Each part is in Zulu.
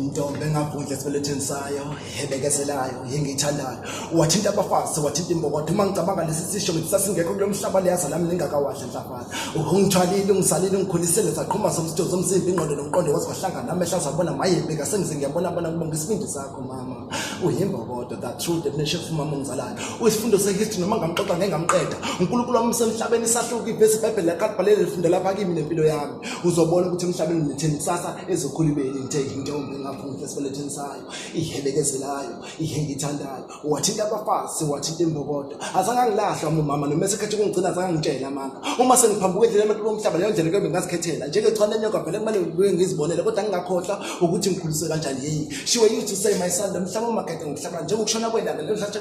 intombi engagudla esibeletheni sayo ebekezelayo engiyithandayo wathinta abafazi wathinta imbokotho uma ngicabanga lesi sisho ngithi sasingekho kulo mhlaba liyaza lami ningakawadla nhlafana ungithwalile ungisalile ungikhulisele zaqhuma zomsitho zomzimba ingqondo nomqondo waze wahlangana amehla azabona mayebeka sengize ngiyabona bona kubonga isibindi sakho mama uyimbokodo that true definition of umama ongizalayo uyisifundo sehistory noma ngamxoxa ngengamqeda unkulunkulu wami usemhlabeni isahluka ivesi ibhayibheli lakaqbalele lifundela phakimi nempilo yami uzobona ukuthi emhlabeni ngitheni kusasa ezokhulibeni ngithe intombi engaphumhle esibeletheni sayo ihelekezelayo ihe ngithandayo wathinta abafazi wathinta imbokodo azange angilahlwa umama noma esekhethe ukungigcina azange angitshela amanga uma sengiphambuka endlela emathuba omhlaba leyo ndlela kuyobe ngazikhethela njengechwane lenyoka vele kumele ngibuye ngizibonele kodwa ngingakhohlwa ukuthi ngikhuliswe kanjani yini shiwe you to say my son lomhlaba umakhethe ngokuhlaba njengokushona kwelanga lelo hlatsha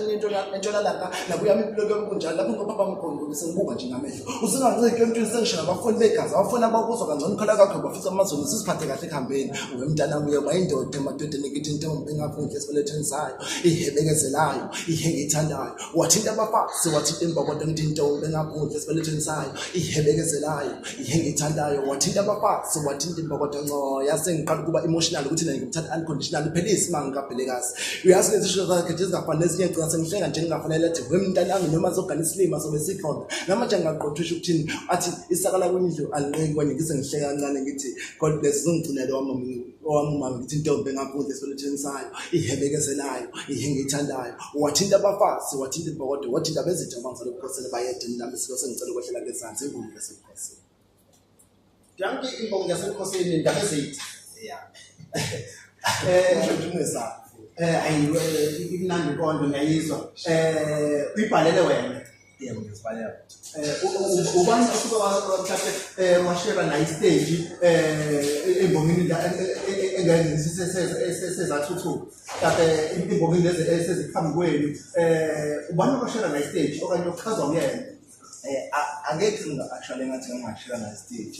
entshonalanga nakuyami impilo kuyobe kunjalo lapho ngobaba mkhulu sengibuka nje ngamehlo usunganciki emntwini sengishaya abafuni begazi abafuni abakuzwa kangcono ukhala kakho bafisa amazulu siziphathe kahle ekuhambeni uwe mntana kuye wayindoda emadodeni ekithi intombi engaphunkhe esibelethweni sayo ihebekezelayo ihenge ithandayo wathinta abafazi wathinta imbokodo ngithi intombi engaphunkhe esibelethweni sayo ihebekezelayo ihenge ithandayo wathinta abafazi wathinta imbokodo ncoya sengiqala ukuba emotional ukuthi nani ngimthanda unconditional uphelise uma ngikabhelekazi uyazi lezi sho zakhe nje zingafanele ezinye ngicina sengihlenga nje ngingafanele athi we mntanami noma zogana isilima sobe sikhona namanje ngingaqothusha ukuthini athi isakala kwindlu alinqeki kwanye ngise ngihleka kancane ngithi god bless zingigcinele wami owami umama ngithi intombi engakudla esibeletsheni sayo ihebekezelayo ihengiyithandayo wathinta abafazi wathinta ibhokodo wathinta bezitha abangisalobukosele bayede nami silo sengicela ukwehlela ngezansi ingumu yasebukhosini Danke Imbongo yasebukhosini ndaba ezithi. Yeah. Eh, ngidumisa. Eh, ayi eh, imnandi konke ngiyayizwa. Eh, uyibhalele wena. Yeah, ngizibhalela. Eh, ubani osuke wathathe eh washera nayi stage eh embongini la engeke sesezathuthukisa. Kade imbongi lezi eseziphambi kwenu eh ubani obashela la stage okanye ochazwa kuyena? Eh angeke ngingabashela ngathi ngingashela la stage.